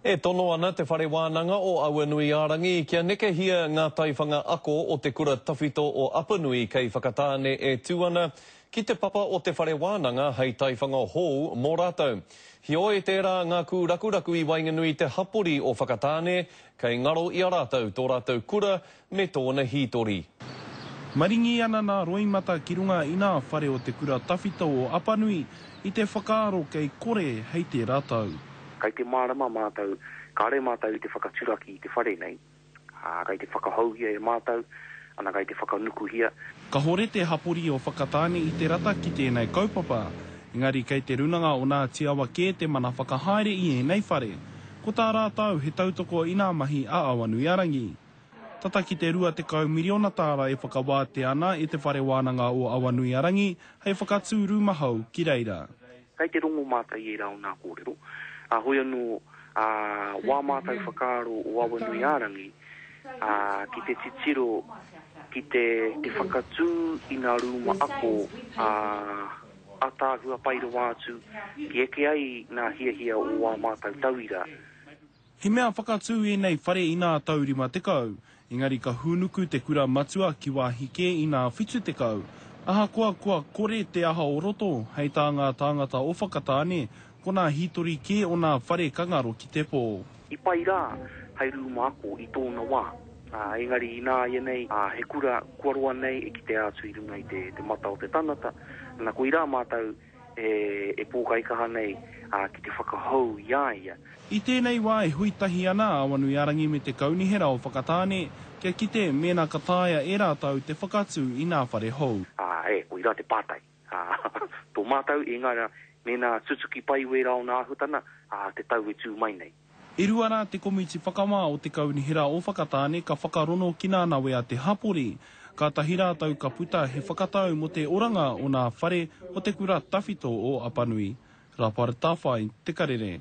E tono ana Te Whare Wānanga o Awanuiārangi kia nekehia ngā taiwhanga ako o te kura tawhito o Apanui kei Whakatāne e tū ana ki te papa o te whare wānanga hei taiwhanga hou mō rātou. Heoi, tērā ngā kūrakuraku i waenganui te hapori o Whakatāne kei ngaro i a rātou tō rātou kura Me tōna hītori. Maringi ana nā roimata ki runga inā whare o te kura tawhito o Apanui i te whakaaro kei kore hei tērā tau. Kei te mārama mātou, kāre mātou i te whakaturaki i te whare nei, ā, kei te whakahoungia e mātou, ana kei te whakanukuhia. Kahore te hapori o Whakatāne i te rata ki tēnei kaupapa, engari kei te runanga o nā Tiawa kē te mana whakahaere i ēnei whare. Ko tā rātou he tautoko inā mahi a Awanuiarangi. tata ki te 20 miriona tāra e whakawātea ana e Te Whare Wānanga o Awanuiarangi hei whakatū rūma hou ki reira. Kei te rongo mātou i ērā o nā kōrero, ā, hoi anō, ā, wā mātou whakaaro o Awanuiarangi, ā, ki te titiro ki te whakatū i nā rūma ako, ā, ataahua pai rawa atu, ki eke ai nā hiahia o wā mātou tauira. He mea whakatū ēnei whare inā tau 50, engari ka hūnuku te kura matua ki wāhi kē inā 70. Ahakoa kua kore te aha o roto, hei tā ngā tāngata o Whakatāne, ko nā hītori kē onā whare ka ngaro ki te pō. I pai rā hei rūma ako i tōna wā, ā, engari inā ianei he kura kua roa nei e kitea atu i runga i te mata o te tangata, ana koirā mātou e pōkaikaha nei ki te whakahou i a ia. I tēnei wā e hui tahi ana a Awanuiarangi me te Kaunihera o Whakatāne kia kite mēnā ka taea e rātou te whakatū i ngā whare hou. Āe, koirā te pātai. Tō mātou i ngā mea mēnā tutuki pai wērā o nā āhuatana te tau e tū mai nei. E rua rā te komiti whakawā o te Kaunihera o Whakatāne ka whakarono ki nā nawe a te hapori. Kātahi rātou ka puta he whakatau mō te oranga o nā whare o te kura tawhito o Apanui. Rapar Tawhai, Te Karere.